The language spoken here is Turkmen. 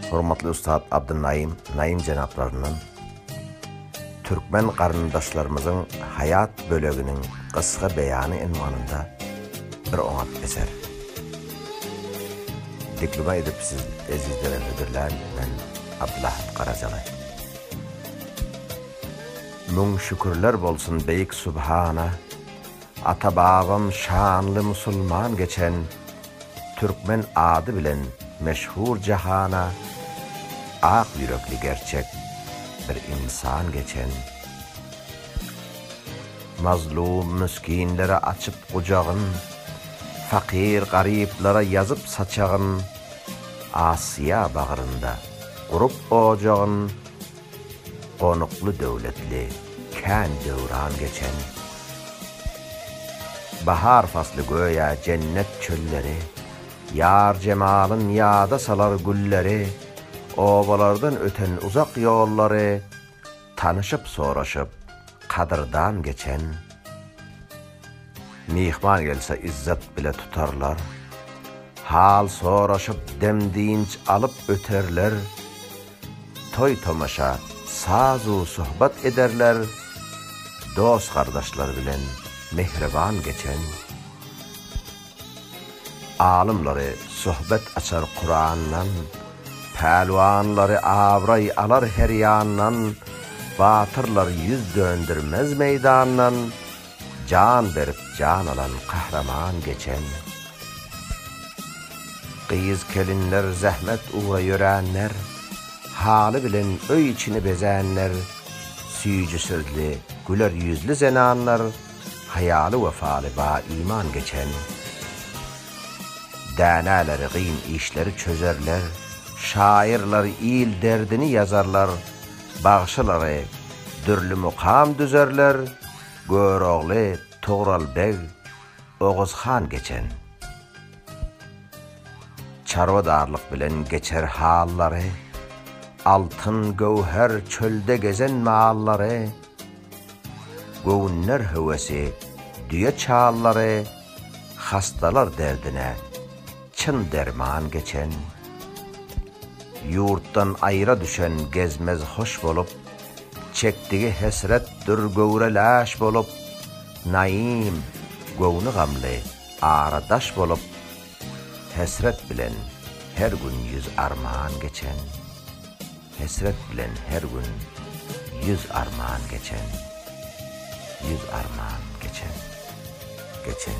Hormatly ussat Abdynaim Naim jenaplaryndan türkmen garyndaşlarymyzyň haýat böleginiň gysga beýany ynwanynda bir oňat eser dikluma edip siz ezizlere hödürlän men Abdylahat Garajaly. Müň şükürler bolsun Beýik Subhana! Ata-babam şanly musulman geçen Türkmen ady bilen meşhur jahana Ak ýürekli gerçek bir ynsan geçen Mazlum müskinlere açyp gujagyn Fakyr garyplara ýazyp saçagyn Asiýa bagrynda gurup ojagyn Gonukly döwletli kän döwran geçen. Bahar fasly göýä jennet çölleri, Ýar jemalyn ýada salar gülleri, Obalardan öten uzak ýollary, Tanyşyp soraşyp kadyrdan geçen. Myhman gelse yzzat bile tutarlar, Hal soraşyp dem dynç alyp öterler. toý-tomaşa, saz-u söhbet ederler, dost-gardaşlar bilen mähriban geçen, alymlary söhbet açar Kurandan, pälwanlary abraý alar her ýandan, batyrlar ýüz döndermez meýdandan, Jan berip jan alan kahraman geçen Gyz kelinler zähmet ugra ýöränler Haly bilen öý içini bezänler Süýji sözli güler ýüzli zenanlar Haýaly wefaly ba iman geçen Dänäleri gyn işleri çözerler Şaýyrlar il derdini ýazarlar Bagşylary dürli mukam düzerler, Görogly, Tugral beg, Oguz han geçen. Çarwadarlyk bilen geçer hallary, Altyn, göwher, çölde gezen mallary, Göwünler höwesi, düýe çallary, Hastalar derdine. Çyn derman geçen, ýurtdan aýra düşen gezmez hoş bolup, Çekdigi hesretdir göwre läş bolup, Naim, göwni gamly, ara daş bolup, Hesret bilen her gün ýüz arman geçen, Hesret bilen her gün ýüz arman geçen, Ýüz arman geçen, geçen.